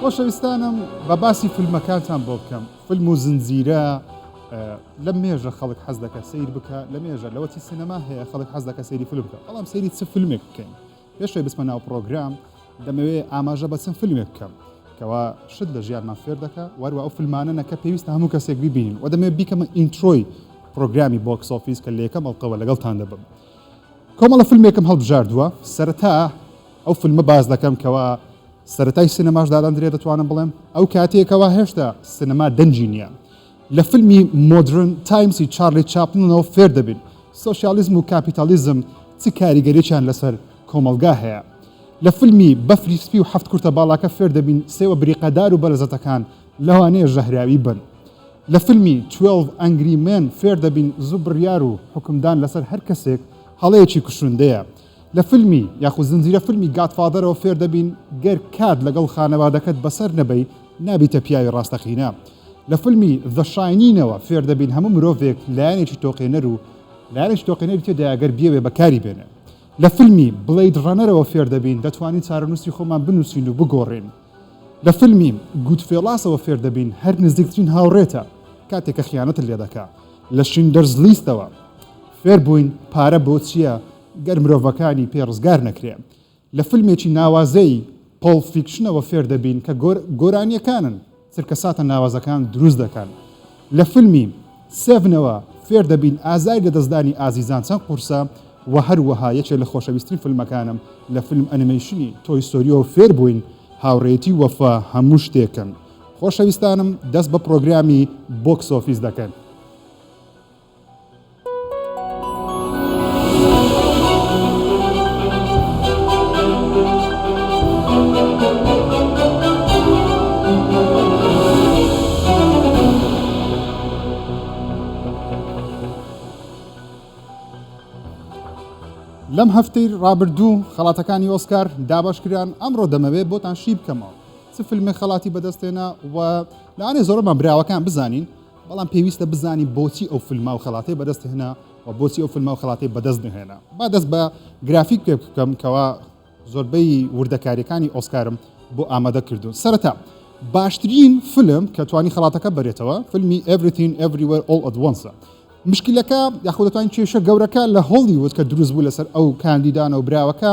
خۆشەویستانم با باسی فلمەکانتان بۆ بکەم فلم و زنجیرە لە مێژە خەڵک حەز دەکە سیر بکە لە مێژە لەوەتی سینەما هەیە خەڵک حەز دەکە سەیری فلم بکە بەڵام سەیری چ فلمێک بکەین پێشێ بسمە ناو پرۆگرام دەمەوێ ئاماژە بە چەند فلمێک بکەم کەوا شت لە ژیانمان فێر دەکە وەروە ئەو فلمانە نەکە پێویستە هەموو کەسێک ببینین و دەمێ بیکەمە ئینترۆی پرۆگرامی بۆکس ئۆفیس کە لە یەکەم ئەڵقەوە لەگەڵتان دەبم کۆمەڵە فیلمێکم هەڵبژاردووە سەرەتا ئەو فیلمە باس دەکەم کەوا سەرەتای سینەماش دادەندرێ دەتوانم بڵێم ئەو کاتەیە کەوا هێشتا سینەما دەنگی نییە لە فیلمی مۆدرن تایمسی چارلی چاپلنەوە فێر دەبین سۆسیالیزم و کاپیتالیزم چ کاریگەرییان لەسەر کۆمەڵگا هەیە لە فیلمی بەفری سپی و هەفت کورتە باڵاکە فێر دەبین سێوە بریقەدار و بەرزەتەکان لەوانەیە ژەهراوی بن لە فیلمی 12 ئەنگری مێن فێر دەبین زوو بڕیار و حکومدان لەسەر هەر کەسێک هەڵەیەکی کوشندەیە لە فیلمی یاخود زنجیرە فیلمی گادفادەرەوە فێر دەبین گەر کات لەگەڵ خانەوادەکەت بەسەر نەبەی نابیتە پیاوی ڕاستەقینە. لە فیلمی The Shining ەوە فێر دەبین هەموو مرۆڤێک لایەنێکی تۆقێنەر و لایەنێکی تۆقێنەری تێدایە گەر بیەوێ بەکاری بێنێ. لە فیلمی Blade Runner ەوە فێر دەبین دەتوانین چارەنووسی خۆمان بنووسین و بگۆڕین. لە فیلمی، Goodfellas-ەوە فێر دەبین هەر نزیکترین هاوڕێتە کاتێک کە خیانەتت لێ دەکا، لە Schindler's List-ەوە فێر بووین پارە بۆ چییە گەر مرۆڤەکانی پێ ڕزگار نەکرێ، لە فیلمێکی ناوازەی، Pulp Fiction-ەوە فێر دەبین کە گۆرانییەکانن چرکەساتە ناوازەکان دروست دەکەن. لە فیلمی، Seven، ەوە فێر دەبین ئازاری لەدەستدانی ئازیزان چەند قورسە و هەروەها یەکێک لە خۆشەویسترین فیلمەکانم لە فیلم ئەنیمەیشنی، تۆی ستۆریۆ، فێر بووین هاوڕێیەتی و وەفا هەموو شتێکن. خۆشەویستانم دەست بە پرۆگرامی بۆکس ئۆفیس دەکەن. لەم هەفتەی ڕابردوو خەڵاتەکانی ئۆسکار دابش کران ئەمڕۆ دەمەوێت بۆتان شی بکەمەوە چ فیلمێک خەڵاتی بەدەستێنا و لەانێ زۆرەمان براوەکان بزانین بەڵام پێویستە بزانین بۆچی ئەو فیلمە و خەڵاتەی بەدەست هێنا و بۆچی ئەو فیلمە و خەڵاتەی بەدەست نەهێنا. با دەست بە گرافیک پێ بکەم کەوا زۆربەی وردەکارییەکانی ئۆسکارم بۆ ئامادە کردوون. سەرەتا باشترین فیلم کە توانی خەڵاتەکە بەرێتەوە فیلمی Everything Everywhere All at Once ە. مشکلەکە یاخۆ دەتوانین کێشە گەورەکە لە هۆڵیوود کە دروست بوو لەسەر ئەو کاندیدانە و براوەکە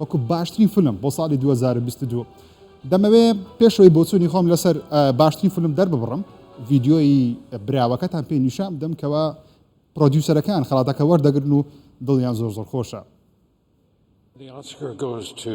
وەکو باشترین فلم بۆ ساڵی 2022 دەمەوێ پێشەوەی بۆچوونی خۆم لەسەر باشترین فلم دەرببڕم ڤیددیۆی براوەکەتان پێ نیشان بدەم کەەوە پرۆدیوسەرەکان خڵاتەکە وەردەگرن و دڵیان زۆر زۆر خۆشە. The Oscar goes to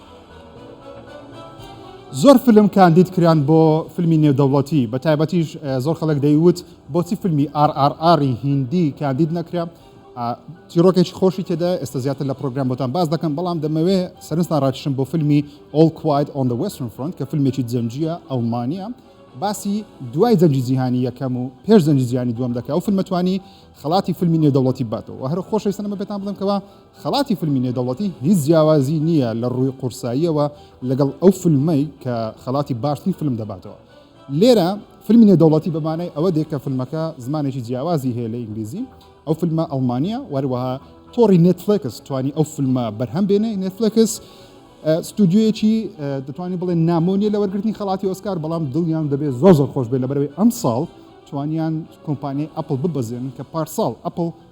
زۆر فلم کاندید کران بۆ فلمی نێودەوڵەتی بە تایبەتیش زۆر خەڵک دەیوت بۆچی فلمی RRR ی هیندی کاندید نەکرا چیرۆکێکی خۆشی تێدا ئێستا زیاتر لە پرۆگرام بۆتان باس دەکەم بەڵام دەمەوێ سەرنجتان ڕاکشم بۆ فلمی All Quiet on the Western Front کە فلمێکی جەنگیە ئەڵمانیە باسی دوای جەنگی جیهانی یەکەم و پێش جەنگی جیهانی دووەم دەکا و فلمەتوانی خەڵاتی فلمی نێودەوڵەتی باتەوە هەر خۆشەویستانەمە پێتان بڵێم کەوە خەڵاتی فیلمی نێدەوڵەتی هیچ جیاوازی نییە لە ڕووی قورساییەوە لەگەڵ ئەو فیلمەی کە خەڵاتی باشترین فیلم دەباتەوە. لێرە فیلمی نێدەوڵەتی بە مانای ئەوە دێ کە فیلمەکە زمانێکی جیاوازی هەیە لە ئینگلیزی، ئەو فیلمە ئەڵمانییە، وەروەها تۆڕی نێتفلێکس توانی ئەو فیلمە بەرهەم بێنێ، نێتفلێکس ستودیۆیەکی دەتوانین بڵێن نامۆ نییە لە وەرگرتنی خەڵاتی ئۆسکار، بەڵام دڵیان دەبێت زۆر زۆر خۆش بێت لەبەرەوەی ئەمساڵ توانیان کۆمپانیای ئەپڵ ببەزێنن کە پارساڵ ئەپڵ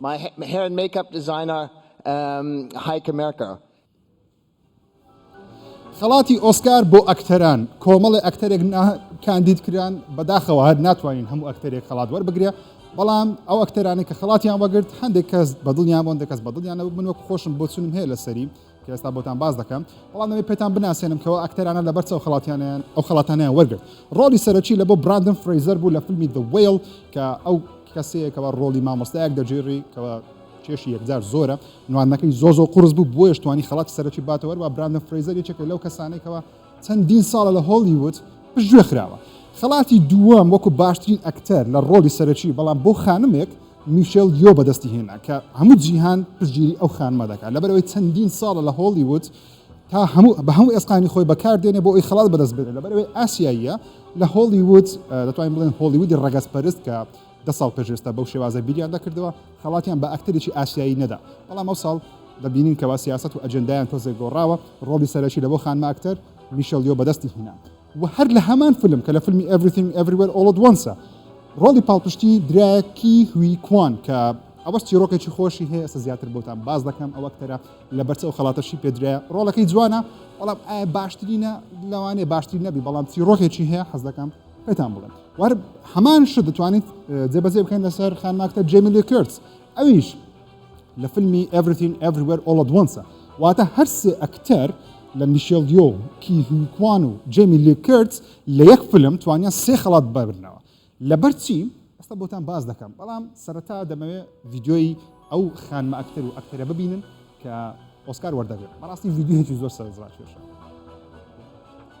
My hair and makeup designer um Heike Merker. خەڵاتی ئۆسکار بۆ ئەکتەران، کۆمەڵێ ئەکتەرێک نا کاندید کران، بەداخەوە هەر ناتوانین هەموو ئەکتەرێک خەڵات وەربگرێ، بەڵام ئەو ئەکتەرانەی کە خەڵاتیان وەگرت هەندێک کەس بەدڵیان بۆ هەندێک کەس بەدڵیان نەبوو، من وەک خۆشم بۆچونم هەیە لەسەری، کە ئێستا بۆتان باس دەکەم، بەڵام دەمەوێت پێتان بناسێنم کە ئەو ئەکتەرانە لەبەر چ ئەو خەڵاتیانەیان ئەو خەڵاتانەیان وەرگرت. ڕۆڵی سەرەکی لەبۆ براندن فرەیزەر بوو لە فیلمی The Whale کە ئەو کەسەیە کەوا ڕۆڵی مامۆستایەک دەگێڕی کەوا کێشی یەکجار زۆرە، نواندنەکەی زۆر زۆر قوڕس بوو بۆیەش توانی خەڵاتی سەرەکی باتەوە، هەروەها براندن فرەیزەر یەکێکە لەو کەسانەی کەوا چەندین ساڵە لە هۆڵیوود پشتگوێ خراوە، خەڵاتی دووەم وەکو باشترین ئەکتەر لە ڕۆڵی سەرەکی، بەڵام بۆ خانمێک میشێل یۆ بەدەستی هێنا کە هەموو جیهان پشتگیری ئەو خانمە دەکات لەبەرئەوەی چەندین ساڵە لە هۆڵیوود تا هەموو بە هەموو ئێسقانی خۆی بەکار دێنێ بۆ ئەوی خەڵات بەدەست بێنێ لەبەرئەوەی ئاسیاییە لە هۆڵیوود دەتوانین بڵێن هۆڵیوودی ڕەگەزپەرست کە دە ساڵ پێش ئێستا بەو شێوازە بیریان دەکردەوە، خەڵاتیان بە ئەکتەرێکی ئاسیایی نەدا، بەڵام ئەوساڵ دەبینین کەوا سیاسەت و ئەجێندایان تۆزێک گۆڕاوە، ڕۆڵی سەرەکی لە بۆ خانمە ئەکتەر میشێڵ یۆ بەدەستی هینا و هەر لە هەمان فیلم کە لە فیلمی Everything Everywhere All At Once-ە ڕۆڵی پاڵپشتی درایە کی هوی کوان کە ئەوەش چیڕۆکێکی خۆشی هەیە ئێستا زیاتر بۆتان باس دەکەم ئەو ئەکتەرە لە بەرچ ئەو خەڵاتەشی پێدرایە ڕۆڵەکەی جوانە بەڵام ئایا باشترینە لەوانەیە باشترین نەبی بەڵام چیڕۆکێکی هەیە حەز دەکەم پێتان بڵێم وار هەمان شت دەتوانیت جێبەجێ بکەین لەسەر خانماکتە جێمیلی کرد ئەویش لە فیلمی ئەڤرین ئەڤروەر ئۆڵدوەنسە واتە هەرسێ ئەکتەر لە میشێل دیۆ کی هویکوان و جێمی لی کرد لە یەک فلم توانیان سێ خەڵات ببرنەوە لەبەر چی ئەستا بۆتان باز دەکەم بەڵام سەرەتا دەمەوێت ڤیددیۆی ئەو خانمە ئەکتەر و ئەکتەرە ببینن کە ئۆسکار وەردەگرن بەڕاستی ڤیددیوهێکی زۆر سەرزڕاکێشە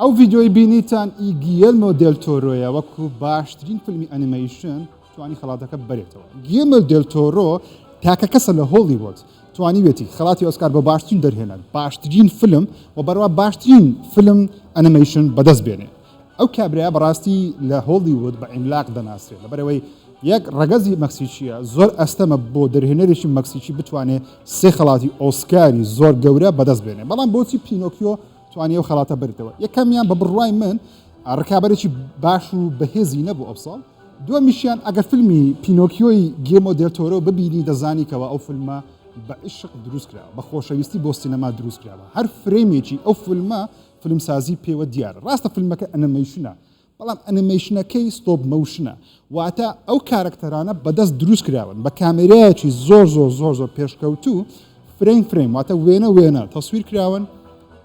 ئەو ڤیدیۆی بینیتان ئی گییەلمۆ دێل تۆرۆیە وەکو باشترین فیلمی ئەنیمەیشن توانی خەڵاتەکە ببەرێتەوە گییەلمۆ دێل تۆرۆ تاکە کەسە لە هۆڵیوۆد توانیوێتی خەڵاتی ئۆسکار بۆ باشترین دەرهێنەر باشترین فیلم و بەروا باشترین فیلم ئەنیمەیشن بەدەست بێنێ. ئەو کابرایە بەڕاستی لە هۆڵیوود بە عیملاق دەناسرێت لەبەرەوەی یەک ڕەگەزی مەکسیکییە، زۆر ئەستەمە بۆ دەرهێنەرێکی مەکسیکی بتوانێت سێ خەڵاتی ئۆسکاری زۆر گەورە بەدەست بێنێت، بەڵام بۆچی پینۆکیۆ توانی ئەو خەڵاتە بردەوە؟ یەکەمیان بە بڕوای من ڕکابەرێکی باش و بەهێزی نەبوو ئەو ساڵ، دووەمیشیان ئەگەر فیلمی پینۆکیۆی گیلمۆ دێل تۆرۆ ببینی دەزانی کەوا ئەو فیلمە بە عیشق دروست کراوە، بە خۆشەویستی بۆ سینەما دروست کراوە، هەر فرەیمێکی ئەو فیلمە فیلمسازی پێوە دیارە. ڕاستە فیلمەکە ئەنمەیشنە، بەڵام ئەنمەیشنەکەی ستۆپ مۆشنە، واتە ئەو کارەکتەرانە بە دەست دروست کراون، بە کامێرایەکی زۆر زۆر زۆر زۆر پێشکەوتوو فرەیم فرەیم واتە وێنە وێنە تەسویر کراون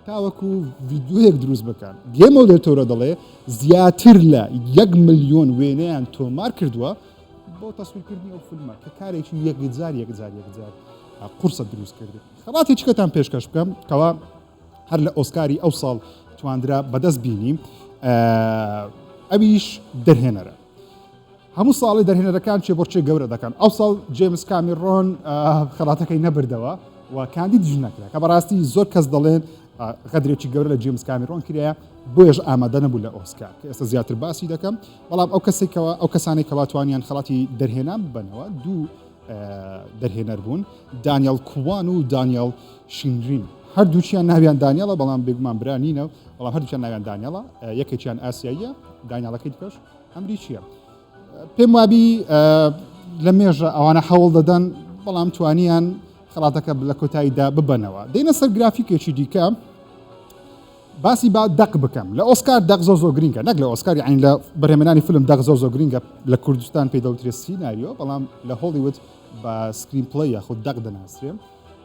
تاوەکو ڤیددیوەیەک دروست بکەن. گێمەو دەرتۆرە دەڵێ زیاتر لە یەک ملیۆن وێنەیان تۆمار کردووە بۆ تەسویرکردنی ئەو فیلمە کە کارێکی یەکجار یەکجار یەکجار قورسە دروست کردن. خەڵاتێکیکەتان پێشکەش بکەم کەوا هەر لە ئۆسکاری ئەوساڵ تواندرا بەدەست بینی. ئەویش دەرهێنەرە هەموو ساڵی دەرهێنەرەکان چێ بۆچێ گەورە دەکەن ئەو ساڵ جێمس کامیڕۆن خەڵاتەکەی نەبردەوە و کاندید ژ نەکرا کە بەڕاستی زۆر کەس دەڵێن غەدرێکی گەورە لە جیمس کامیرۆن کرایە بۆیش ئامادە نەبوو لە ئۆسکار کە ئێستا زیاتر باسی دەکەم بەڵام ئەو کەسێکەوە ئەو کەسانی کەواتوانیان خڵاتی دەرهێنان بنەوە دوو دەرهێنەر بوون، دانیاڵ کوان و دانیاڵ شینرین، هەردووکیان ناویان دانیاڵە بەڵام بێگومان برا نینە، بەڵام هەردووکیان ناویان دانیاڵە، یەکێکیان ئاسیاییە، دانیاڵەکەی دیکەش ئەمریکییە. پێم وابی لە مێژە ئەوانە هەوڵ دەدەن بەڵام توانیان خەڵاتەکە لە کۆتاییدا ببەنەوە. دێنە سەر گرافیکێکی دیکە. باسی با دەق بکەم لە ئۆسکار دەق زۆر زۆر گرینگە نەک لە ئۆسکار یعنی لە بەرهەمێنانی فلم دەق زۆر زۆر گرینگە لە کوردستان پێی دەوترێت سیناریۆ بەڵام لە هۆڵیوود بە سکرین پلەی یاخود دەق دەناسرێن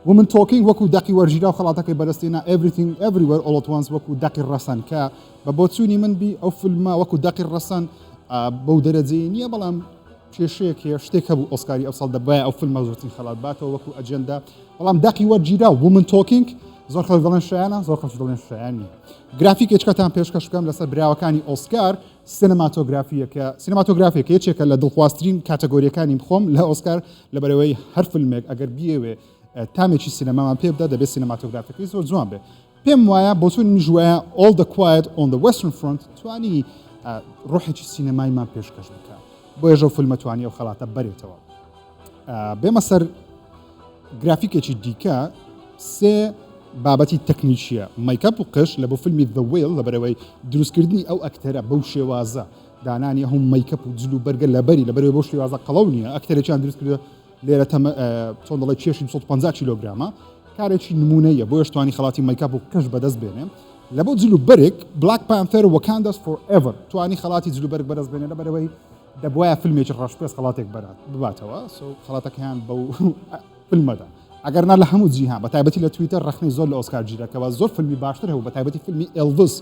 ومن تۆکینگ وەکو دەقی وەرگیرا و خەڵاتەکەی بەرستێنا ئێڤریتینگ ئێڤریوەر ئۆڵ ئەت وانس وەکو دەقی ڕەسەن کە بە بۆچوونی من بی ئەو فلمە وەکو دەقی ڕەسەن بەو دەرەجەیە نییە بەڵام کێشەیەک هەیە، شتێک هەبوو ئۆسکاری ئەوساڵ دەبوایە ئەو فیلمە زۆرترین خەڵات باتەوە وەکو ئەجێندا، بەڵام دەقی وەرگیراو، Women Talking، زۆر خەڵک دەڵێن شایانە، زۆر خەڵکیش دەڵێن شایان نییە. گرافیکێکتان پێشکەش بکەم لەسەر براوەکانی ئۆسکار، سینەماتۆگرافییەکە، سینەماتۆگرافییەکە یەکێکە لە دڵخوازترین کاتەگۆرییەکانی خۆم لە ئۆسکار، لەبەرئەوەی هەر فیلمێک ئەگەر بیەوێ تامێکی سینەمامان پێ بدا دەبێ سینەماتۆگرافییەکەی زۆر جوان بێ. پێم وایە بۆچوونی منیش وایە All the Quiet on the Western Front توانی ڕۆحێکی سینەمایمان پێشکەش بکە بۆیە ژەو فیلمە توانی ئەو خەڵاتە بەرێتەوە بێمە سەر گرافیکێکی دیکە سێ بابەتی تەکنیکیە مایکاپ و قش لە بۆ فیلمی The Whale لە بەرەوەی دروستکردنی ئەو ئەکتەرە بەو شێوازە دانانی هەم مایکەپ و جل و بەرگە لەبەری لەبەرەوە بۆ شێوازە قەڵەو نیە ئەکتەرێکیان دروستکردە لێرە تەمە چۆن دەڵێ کێشی دوو سەد و پەنجا کیلۆگرامە کارێکی نمونەیە بۆیەش توانی خەڵاتی مەیکاپ و قژ بەدەست بێنێ لە بۆ جل و بەرگ بلاک پانتەر وەکانداس فۆر ئێڤەر توانی خەڵاتی جل و بەرگ بەدەست بێنێ لەبەرەوەی دەبوایە فیلمێکی ڕەشپێست خەڵاتێک بەرات بباتەوە سو خەڵاتەکەیان بەو فیلمەدا ئەگەر نا لە هەموو جیهان بە تایبەتی لە تویتەر ڕخنی زۆر لە ئۆسکار گیرەکەەوە زۆر فیلمی باشتر هەبوو بە تایبەتی فیلمی ئێلڤس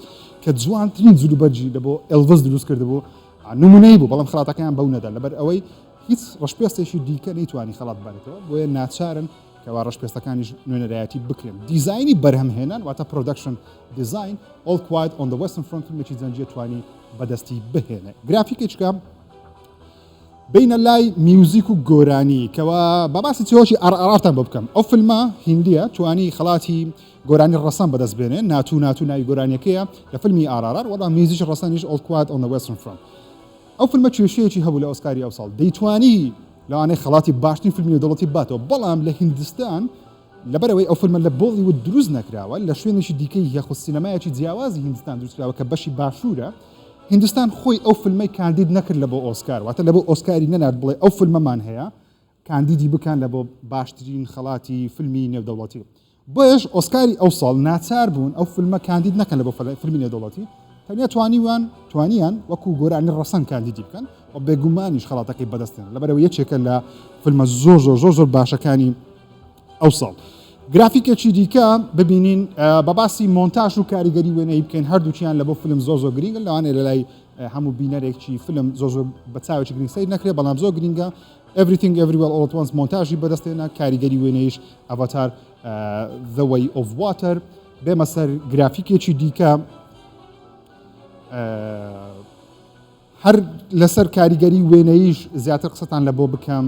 کە جوانترین جلوبەرجی لە بۆ ئێلڤس دروست کرد بوو نمونەی بوو بەڵام خڵاتەکەیان بەو نەدا لەبەر ئەوەی هیچ ڕەشپێستێکی دیکە نەیتوانی خەڵات ببارێتەوە، بۆیە ناچارن کەوا ڕەشپێستەکانیش نوێنەرایەتی بکرێن. دیزاینی بەرهەمهێنان واتە Production Design، All Quiet on the Western Front فیلمێکی جەنگییە توانی بەدەستی بهێنێ. گرافیکێکە بینە لای میوزیک و گۆرانی کەوا با باسی چیرۆکی ئەڕئەڕتان بۆ بکەم. ئەو فیلمە هیندییە توانی خەڵاتی گۆرانی ڕەسەن بەدەست بێنێ، ناتو ناتو ناوی گۆرانیەکەیە لە فیلمی ئارارار، وەڵا میوزیکی ڕەسەنیش All Quiet on the Western Front. ئەو فیلمە کێشەیەکی هەبوو لە ئۆسکاری ئەوساڵ دەیتوانی لەوانەیە خەڵاتی باشترین فیلمی نێودەوڵەتی بباتەوە بەڵام لە هیندستان لەبەرئەوەی ئەو فیلمە لە بۆڵیوود دروست نەکراوە لە شوێنێکی دیکەی یاخود سینەمایەکی جیاوازی هیندستان دروستکراوە کە بەشی باشوورە هیندستان خۆی ئەو فیلمەی کاندید نەکرد لە بۆ ئۆسکار واتە لە بۆ ئۆسکاری نەنارد بڵێ ئەو فیلمەمان هەیە کاندیدی بکەن لە بۆ باشترین خەڵاتی فیلمی نێودەوڵەتی بۆیەش ئۆسکاری ئەو ساڵ ناچار بوون ئەو فیلمە کاندید نەکەن لە بۆ فیلمی نێودەوڵەتی تەنیا توانیوان توانیان وەکو گۆرانی ڕەسەن کاندیدی بکەن و بێگومانیش خەڵاتەکەی بەدەستێن لەبەرەوە یەکێکە لە فیلمە زۆر زۆر زۆر زۆر باشەکانی ئەو ساڵ. گرافیکێکی دیکە ببینین بە باسی مۆنتاژ و کاریگەری وێنەی بکەین هەردووچیان لە بۆ فیلم زۆ زۆ گرنگە لەوانێ لە لای هەموو بینەرێکی فیلم زۆ زۆ بە چاوێکی گرنگ سیر نەکرێت بەڵام زۆر گرنگە Everything Everywhere All At Once مۆنتاژی بەدەست هێنا، کاریگەری وێنەییش Avatar، The Way of Water. بێمە سەر گرافیکێکی دیکە، هەر لەسەر کاریگەری وێنەییش زیاتر قسەتان لە بۆ بکەم،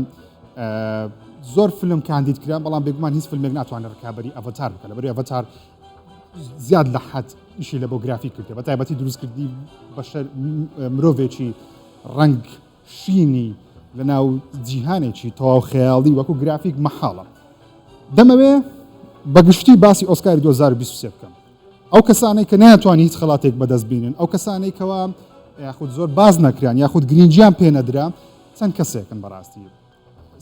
زۆر فیلم کاندید کران، بەڵام بێگومان هیچ فیلمێک ناتوانێت ڕکابەری Avatar بکات، لەبەر ئەوەی Avatar زیاد لە حەد ئیشی لە بۆ گرافیک کردووە، بە تایبەتی دروستکردنی بەشەر مرۆڤێکی ڕەنگ، شینی لەناو جیهانێکی تەواو خەیاڵی وەکو گرافیک مەحاڵە. دەمەوێ بە گشتی باسی ئۆسکاری دوو هەزار و بیست و سێ بکەم. ئەو کەسانەی کە نەیانتوانی هیچ خەڵاتێک بەدەست بینن، ئەو کەسانەی کەوا یاخود زۆر باس نەکران یاخود گرینگیان پێ نەدرا چەند کەسێکن بەڕاستی.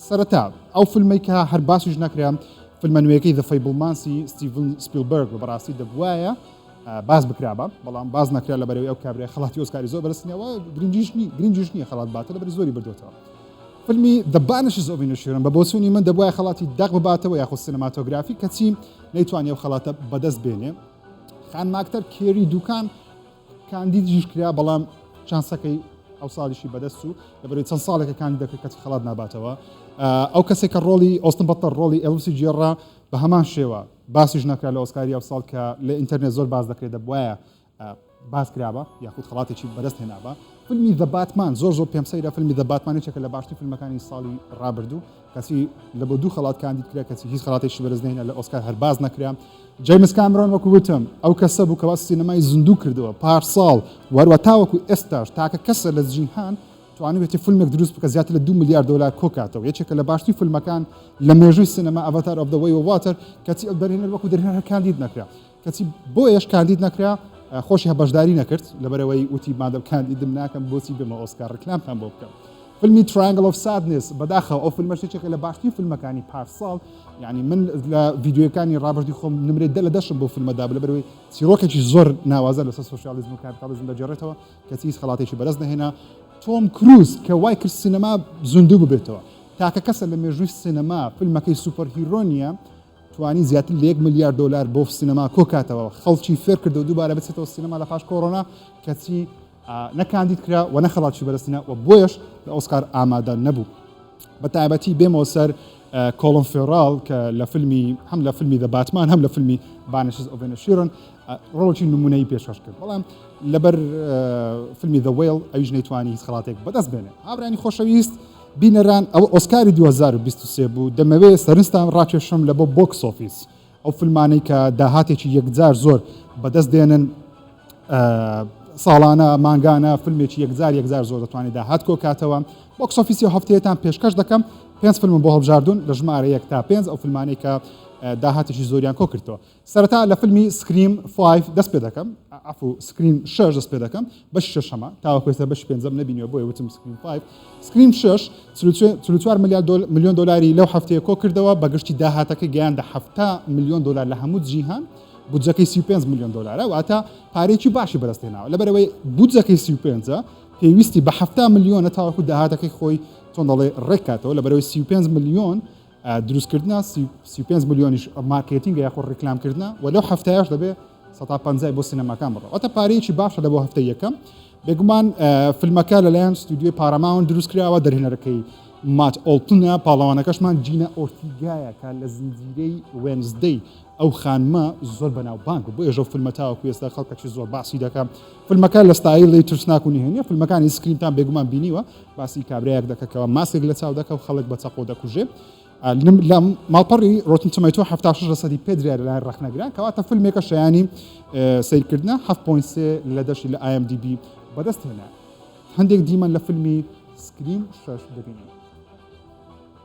سەرەتا ئەو فلمەی کە هەر باسیش نەکرا فلمە نوێیەکەی The Fablemans-ی ستیڤن سپیلبەرگ و بەڕاستی دەبوایە باس بکرابا بەڵام باس نەکرا لە بەرەوەی ئەو کابرای خەڵاتی ئۆسکاری زۆر بەرستنیەوە گرنجیشنی گرنجیش نییە خەڵات باتە لە بەر زۆری بردوێتەوە فلمی The Banishes of Inisherin بە بۆچوونی من دەبوایە خەڵاتی دەق بباتەوە یاخود سینەماتۆگرافی کەچی نەیتوانێ و خەڵاتە بەدەست بێنێ خانماکتەر کێری دوکان کاندیدیش کرا بەڵام چانسەکەی ئەوساڵیشی بەدەست چوو لەبەرەوەی چەند ساڵێکە کاندیدەکە کەچی خەڵات ناباتەوە ئەو کەسێک کە ڕۆڵی ئۆستن بەتەر ڕۆڵی ئێلوسی گێڕا بە هەمان شێوە باسیش نەکرا لە ئۆسکاری ئەوساڵ کە لە ئینتەرنێت زۆر باس دەکرێت دەبواە باس کرابە یاخود خڵاتێکی بەدەست هێنابە فیلمی دە باتمان زۆر زۆر پێم سەیرە فیلمی دە باتمانێکێکە لە باشتر فیلمەکانی ساڵی ڕابردوو کەچی لە بۆ دوو خەڵات کاندید کرا کەچی هیچ خەڵاتێکی بەرز نەهێنا لە ئۆسکار هەر باس نەکرا جەیمس کامرۆن وەکو وتم ئەو کەسە بوو کەوا سینەمای زیندوو کردەوە پارساڵ وەروە تاوەکو ئێستاش تاکە کەسە لە جیهان توانیوێتی فیلمێک دروست بکە زیاتر لە دو ملیار دۆلار کۆکاتەوە یەکێکە لە باشترین فیلمەکان لە مێژووی سینەما ئەڤاتار ئۆف دە وەی واتەر کەچی ئەو دەرهێنەر وەکو دەرهێنەر هەر کاندید نەکرا کەچی بۆیەش کاندید نەکرا خۆشی بەشداری نەکرد لەبەرەوەی وتی مادەم کاندیدم ناکەم بۆچی بمە ئۆسکار ڕکلامتان بۆ بکەم فیلمی ترانگل ئۆف سادنس بەداخەوە ئەو فیلمە شتێکە لە باشترین فیلمەکانی پارساڵ یعنی من لە ڤیددیوەکانی ڕابردی خۆم نمرێت دە لە دەشم بۆ فیلمەدا لە بەرەوەی چیرۆکێکی زۆر ناوازە لەسەر سوسیالیزم و کارتالیزم دەجێڕێتەوە کەچی هیچ خەڵاتێکی بەرز نەهێنا تۆم کروز کە وای کرد سینەما زیندوو ببێتەوە تاکە کەسە لە مێژووی سینەما فیلمەکەی سوپەر هیرۆنیە توانی زیاتر لە یەک ملیار دۆلار بۆ سینەما کۆکاتەوە، خەڵکی فێرکردەوە دووبارە بچێتەوە سینەما لە پاش کۆرۆنا، کەچی نە کاندید کرا و نە خەڵکی بەدەستهێنا و بۆیەش لە ئۆسکار ئامادە نەبوو. بە تایبەتی بێمەوە سەر کۆڵن فێڕاڵ کە لە فیلمی هەم لە فیلمی دە باتمان هەم لە فیلمی بانشز ئۆڤ ئینیشیرن ڕۆڵێکی نمونەی پێشکەش کرد بەڵام لەبەر فیلمی دە وەیڵ ئەویش نەیتوانی هیچ خەڵاتێک بەدەست بێنێ. هاورانی خۆشەویست بینەران ئەوە ئۆسکاری دوو هەزار و بیست و سێ بوو دەمەوێ سەرنجتان ڕاکێشم لە بۆ بۆکس ئۆفیس ئەو فیلمانەی کە داهاتێکی یەکجار زۆر بەدەست دێنن ساڵانە مانگانە فیلمێکی یەکجار یەکجار زۆر دەتوانێت داهات کۆکاتەوە بۆکس ئۆفیسی و هەفتەیەتان پێشکەش دەکەم پێنج فیلم بۆ هەڵبژاردون لە ژمارە یەک تا پێنج ئەو فیلمانەی کە داهاتێکی زۆریان کۆکردەوە سەرەتا لە فیلمی سکریم فایڤ دەست پێ دەکەم عفو سکریم شەش دەست پێ دەکەم بەشی شەشەمە تاوەکو ئێستا بەشی پێنجەم نەبینیوە بۆیە وتم سکریم فایڤ سکریم شەش چل و چ- چل و چوار ملیار دۆل- ملیۆن دۆلاری لەو هەفتەیە کۆ کردەوە بە گشتی داهاتەکەی گەیاندە حەفتا ملیۆن دۆلار لە هەموو جیهان بودجەکەی سی و پێنج ملیۆن دۆلارە واتە پارەیەکی باشی بەدەست هێناوە لەبەرەوەی بودجەکەی سی و پێنج پێویستی بە حەفتا ملیۆنە تاوەکو داهاتەکەی خۆی چۆن دەڵێ ڕێک کاتەوە لەبەرەوەی سی و پێنج ملیۆن دروستکردنە، سی و پێنج ملیۆنیش مارکێتینگە یاخود ڕیکلامکردنە و لەو هەفتەیەش دەبێ سەتا پەنجای بۆ سینەماکان بڕە واتە پارەیەکی باشە لە بۆ هەفتەی یەکەم بێگومان فیلمەکە لەلایەن ستودیۆی پاراماون دروستکراوە دەرهێنەرەکەی مات ئۆڵتنە پاڵەوانەکەشمان جینە ئۆرتیگایە کە لە زنجیرەی وێنزدەی ئەو خانمە زۆر بەناوبانگ بۆ ێژە فیلمە تاوەکو ئێستا خەڵکەکی زۆر باسی دەکەم فیلمەکە لە ستایلی ترسناک و نهێنە فیلمەکانی سکرینتان بێگومان بینیوە باسی کابرایەک دەکە کەوا ماسک لە چاو دەکە و خەڵک بە چەقۆ دەکوژێ لە ماڵپەڕی ڕۆتن تەمەیتۆ 76 لەسەدی پێدریا لەلایەن ڕەخنەگران کەواتە فیلمێکە شایانی سیرکردە 7.3 لە دەشی لە IMDB بەدەست هێنا هەندێک دیمەن لە فیلمی سکرین شش دەبینین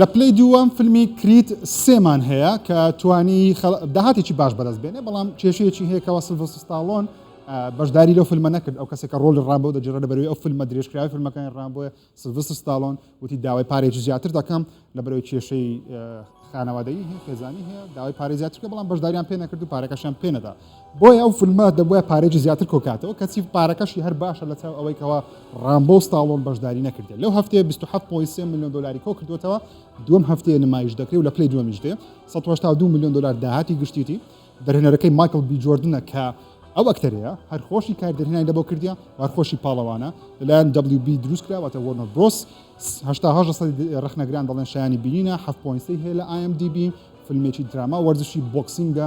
لە پلەی دووەم فیلمی کریت سێمان هەیە کە توانی داهاتێکی باش بەدەست بێنێ بەڵام کێشەیەکی هەیە کەەوە سلڤستاڵۆن بەشداری لەو فیلمە نەکرد ئەو کەسێکە ڕۆل ڕامبۆ دەجرە بەروی ئەو فیلمە درێژکراوی فیلمەکان ڕامبۆە سلڤست ستاالۆن وتی داوای پارێکی زیاتر دەکەم لە بەرەوەی کێشەی خانەوادەی هەیە خێزانی هەیە داوای پارێ زیاترکە بەڵام بەشداریان پێ نەکرد و پارەکەشیان پێنەدا بۆیە ئەو فلمە دەبوایە پارەیەکی زیاتر کۆکاتەوە کەچی پارەکەشی هەر باشە لە چاو ئەوەی کەەوە ڕامبۆ و ستاڵۆن بەشداری نەکردێت لەو هەفتەیە 27.3 میلیۆن دلاری کۆ کردوێتەوە دوم هەفتەیە نمایش دەکرێت و لە پلی دومیش دێ 1970 میلیۆن دلار داهاتی گشتیتی دەرهێنەرەکەی مایکل بی جۆردنە کە ئەو ئەکتەرەیە هەر خۆشی کار دەرهێنانی لەبەو کردە وارخۆشی پاڵەوانە لەلایەن WB دروست کراوەتە وەرنۆ برۆس ڕخنەگران دەڵێن شایانی بینینە 7.3 هەیە لە ئایم دیبی فیلمێکی دراما وەرزشی بۆکسینگە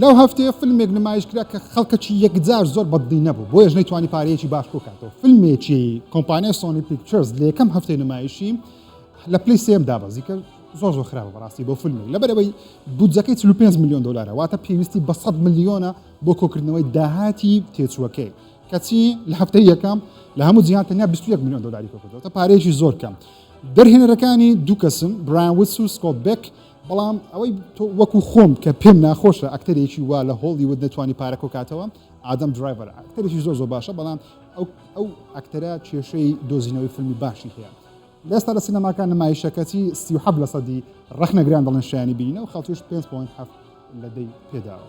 لەو هەفتەیە فلمێک نمایش کرا کە خەڵکەکی یەکجار زۆر بەدڵی نەبوو بۆیەش نەیتوانی پارەیەکی باش کۆکاتەوە فلمێکی کۆمپانیای سۆنی پیکچرز لە یەکەم هەفتەی نمایشی لە پلی سێم دابەزی کرد زۆر زۆر خراپە بەڕاستی بۆ فیلمی لەبەرەوەی بودجەکەی 45 میلیۆن دلارە واتە پێویستی بە 100 ملیۆنە بۆ کۆکردنەوەی داهاتی تێچووەکەی کەچی لە هەفتە یەکەم لە هەموو جیان تەنیا 21 میلیۆن دلاری کۆکردەوە پارێکی زۆر کەم دەرهێنەرەکانی دوو کەسن برایان وسو سکۆت بێک بەڵام ئەوەی تۆ وەکو خۆم کە پێم ناخۆشە ئەکتەرێکی وا لە هۆڵیوود نەتوانی پارە کۆکاتەوە ئادەم درایڤەر ئەکتەرێکی زۆر زۆر باشە بەڵام ئەو ئەو ئەکتەرە کێشەی دۆزینەوەی فیلمی باشی هەیە لەستا لە سینەماکان نمایشەکەتی سی حەب لە سەدی ڕەخنەگران دەڵێن شایانی بینە و خەڵکیش 5.7 لە دەی پێداوە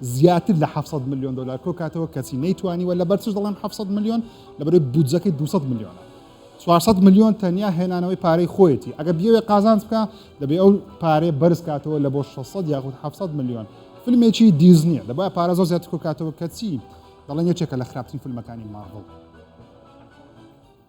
زیاتر لە حەفت سەد ملیۆن دۆلار کۆکاتەوە کەچی نەیتوانیوە، لەبەر چش دەڵێم حەفت سەد ملیۆن؟ لەبەرەوەی بودجەکەی دوو سەد ملیۆنە. چوار سەد ملیۆن تەنیا هێنانەوەی پارەی خۆیەتی، ئەگەر بیەوێ قازانج بکا دەبێ ئەو پارەیە بەرز کاتەوە لە بۆ شەش سەد یاخود حەفت سەد ملیۆن، فیلمێکی دیزنییە دەبوایە پارە زۆر زیاتر کۆکاتەوە کەچی دەڵێن یەکێکە لە خراپترین فیلمەکانی مارڤڵ.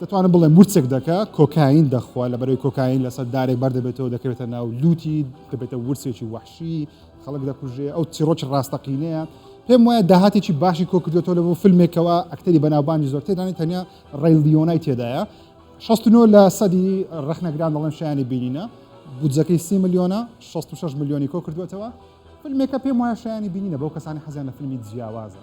دەتوانم بڵێم ورچک دەکە کۆکاین دەخوا لە بەرەی کۆکاین لەسەر دارێک بەردەبێتەوە دەکەوێتە ناو لوتی دەبێتە ورچێکی وحشی خەڵک دەکوژێ ئەو چیڕۆکی ڕاستەقینەیە پێم وایە داهاتێکی باشی کۆکردێتەوە لە بۆ فیلمێکەوە ئەکتەری بەناوبانگی زۆر تێدانی تەنیا ڕێل لیۆنای تێدایە 16 لە سەدی ڕخنەگران دەڵێن شایانی بینینە بودجەکەی سی ملیۆنە 66 ملیۆنی کۆ کردوێتەوە فیلمێکە پێم وایە شایانی بینینە بەو کەسانی حەزیان لە فیلمی جیاوازە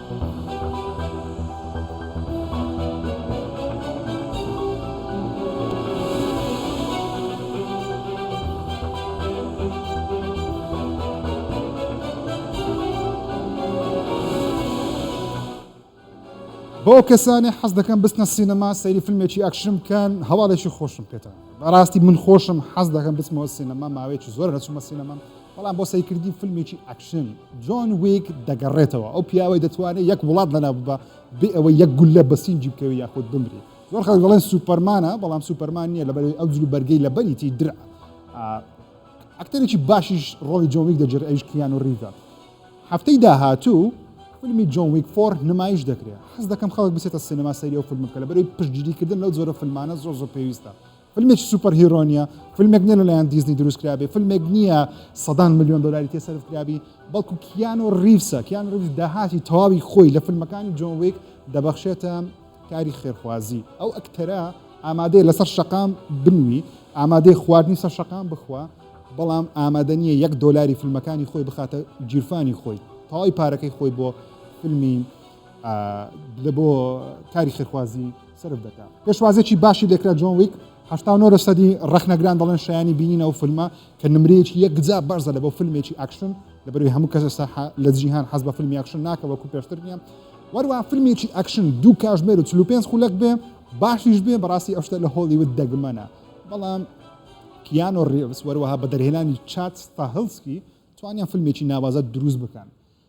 بۆ ئەو کەسانەی حەز دەکەن بچنە سینەما سەیری فیلمێکی ئەکشن بکەن هەواڵێکی خۆشم پێتان بەڕاستی من خۆشم حەز دەکەم بچمەوە سینەما ماوەیەکی زۆر نەچوومە سینەما بەڵام بۆ سەیرکردنی فیلمێکی ئەکشن جۆن ویک دەگەڕێتەوە ئەو پیاوەی دەتوانێت یەک وڵات لەنا ببە بێ ئەوەی یەک گوللە بە سینگی بکەوی یاخود بمری زۆر خەڵک دەڵێن سوپەرمانە بەڵام سوپەرمان نییە لەبەرەوەی ئەو جلو بەرگەی لە بەریتی درع ئەکتەرێکی باشیش ڕۆڵی جۆن ویک دەجێت ئەویش کیان و ڕیڤە هەفتەی داهاتوو فیلمی جۆن ویک فۆر نمایش دەکرێت حەز دەکەم خەڵک بچێتە سینەما سەری ئەو فیلم بکە لە بەرەوەی پشتگیریکردن لەو جۆرە فیلمانە زۆر زۆر پێویستە فلمێکی سوپەر هیرۆ نیە فلمێک نیە لەلایەن دیزنی دروست کرابێ فلمێک نیە سەدان ملیۆن دلاری تێ سەرف کرابی بەڵکو کیان و ریفسە کیان ریف داهاتی تەواوی خۆی لە فلمەکانی جۆن ویک دەبەخشێتە کاری خێرخوازی ئەو ئەکتەرە ئامادەیە لەسەر شەقام بنوی ئامادەی خواردنی سەر شەقام بخوا بەڵام ئامادە نییە یەک دۆلاری فیلمەکانی خۆی بخاتە گیرفانی خۆی تەواوی پارەکەی خۆی بۆ فیلمی لە بۆ کاری خێرخوازی سرف دەکا پێشوازێکی باشی لێکرا جۆن ویک هەفتا نۆ لەسەدی ڕخنەگران دەڵێن شایانی بینین ئەو فیلمە کە نمرەیەکی یەکجا بەرزە لە بۆ فیلمێکی ئاکشن لەبەروی هەموو کەس ئێستا لە جیهان حەز بە فیلمی ئاکشن ناکە وەکو پێشتر نیە وەروە فیلمێکی ئاکشن دوو کاژمێر و 45 خولەک بێ باشیش بێ بەڕاستی ئەوشتە لە هۆڵیوت دەگمەنە بەڵام کیان و ڕێوس وەروەها بە دەرهێنانی چات ستاهلسکی توانیان فیلمێکی ناوازە دروست بکەن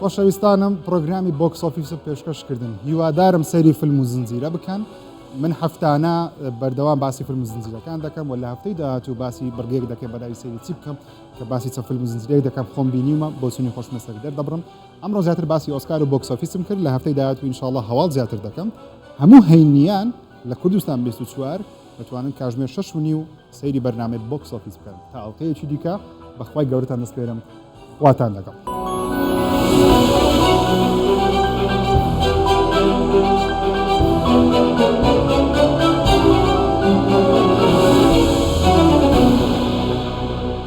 خۆشەویستانم پرۆگرامی بۆکس ئۆفیسم پێشکەش کردن هیوادارم سەیری فیلم و زنجیرە بکەن من هەفتانە بەردەوام باسی فیلم و زنجیرەکان دەکەم و لە هەفتەی داهاتوو باسی بڕگەیەک دەکەم بەداوی سەیری چی بکەم کە باسی چە فیلم و زنجیرەیەک دەکەم خۆم بینیمە بۆچونی خۆشمە سەر دەردەبڕم ئەمڕۆ زیاتر باسی ئۆسکار و بۆکس ئۆفیسم کرد لە هەفتەی داهاتوو انشاءالله هەواڵ زیاتر دەکەم هەموو هەینیان لە کوردستان 24 دەتوانن کاژمێر شەش و نیو سەیری بەرنامەی بۆکس ئۆفیس بکەن تا ئەڵقەیەکی دیکە بەخوای گەورەتان دەسپێرم خواتان لەگەڵ.